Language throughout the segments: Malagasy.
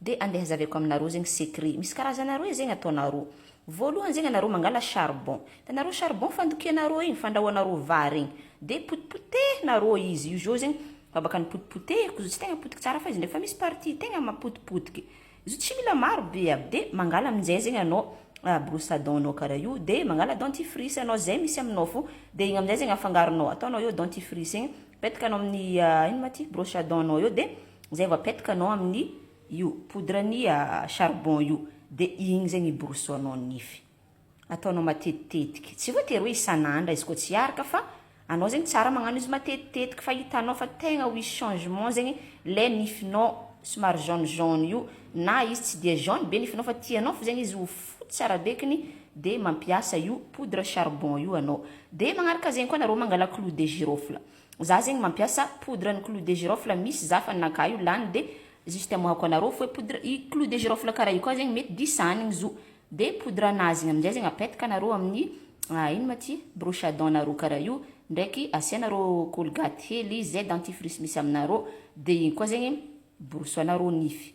Dia andeha hazaveko aminareo zegny secret. Misy karazana roe zegny ataonareo. Voalohany zegny anareo mangala charbon. Hitanareo charbon fandokianareo igny, fandrahoanareo vary igny. Dia potipotehinareo izy. Io zao zegny babaka nopotipotehiko. Izy io tsy tegna potiky tsara fa izy ndraiky fa misy partie tegna mapotipotiky. Izy io tsy mila maro be aby. Dia mangala amin'izay zegny anao brosse à dent nao karaha io. Dia mangala dentifrice anao, izay misy aminao fô. Dia igny amin'izay zegny afangaronao. Ataonao eo dentifrice igny. Apetaka anao amin'ny ino ma ty brosse à dents nao eo de zay vao apetaka anao amin'ny io poudre ny charbon io de igny zay miborosoanao ny nify. Ataonao matetitetiky, tsy voatery hoe isan'andra izy koa tsy araka fa anao zegny tsara magnano izy matetitetiky fa hitanao fa tegna ho hisy changement zegny le nifinao somary jaune jaune io na izy tsy dia jaune be nifinao fa tianao fo zegny izy ho fotsy arabekiny de mampiasa io poudre charbon io anao de magnaraka zegny koa nareo mangala clou de girofle za zegny mampiasa poudre ny clou de girofle misy za fa naka io lany de juste amoahako anareo foe poudre i clou de girofle kara io koa zegny mety disanigny zo de poudre anazy igny amizay zegny apetaka anareo amin'ny ino ma ty broche à dent nareo kara io ndraiky asianareo colgate hely ze dentifrice misy aminareo de igny koa zegny borosoanareo nify.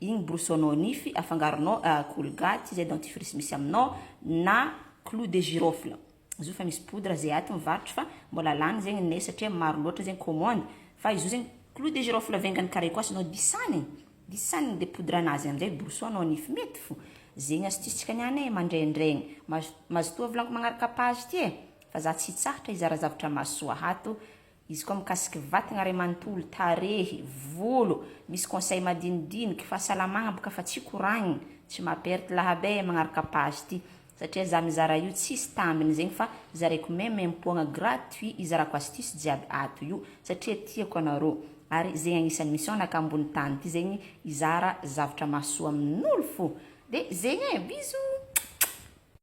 Igny borosonao nify afangaronao colgate izay dentifrice misy aminao na clou de girofle izy io fa misy poudre zay aty mivarotry fa mbola lany zegny neh satria maro loatra zegny commande fa izy io zegny clou de girofle vengan'ny carré koa asanao disanigny disanigny de poudre anazy amizay borosonao nify mety fo zegny astuce tsika niany eh mandraindraigny mazotoa volagno magnaraka page ty eh fa za tsy hitsahatra hizara zavatra mahasoa ato Izy koa mikasiky vatagna ray manontolo, tarehy, volo, misy conseil madinidiniky, fahasalamagna boka fa tsy koragnina, tsy maha perte lahaba ee magnaraka page ty satria za mizara io tsisy tambiny zegny fa zaraiko meme impoagna gratuit izarako astuce jiaby ato io satria tiako anareo ary zegny agnisany mission naka ambony tany ty zegny izara zavatra mahasoa aminolo fo de zegny ee bisous.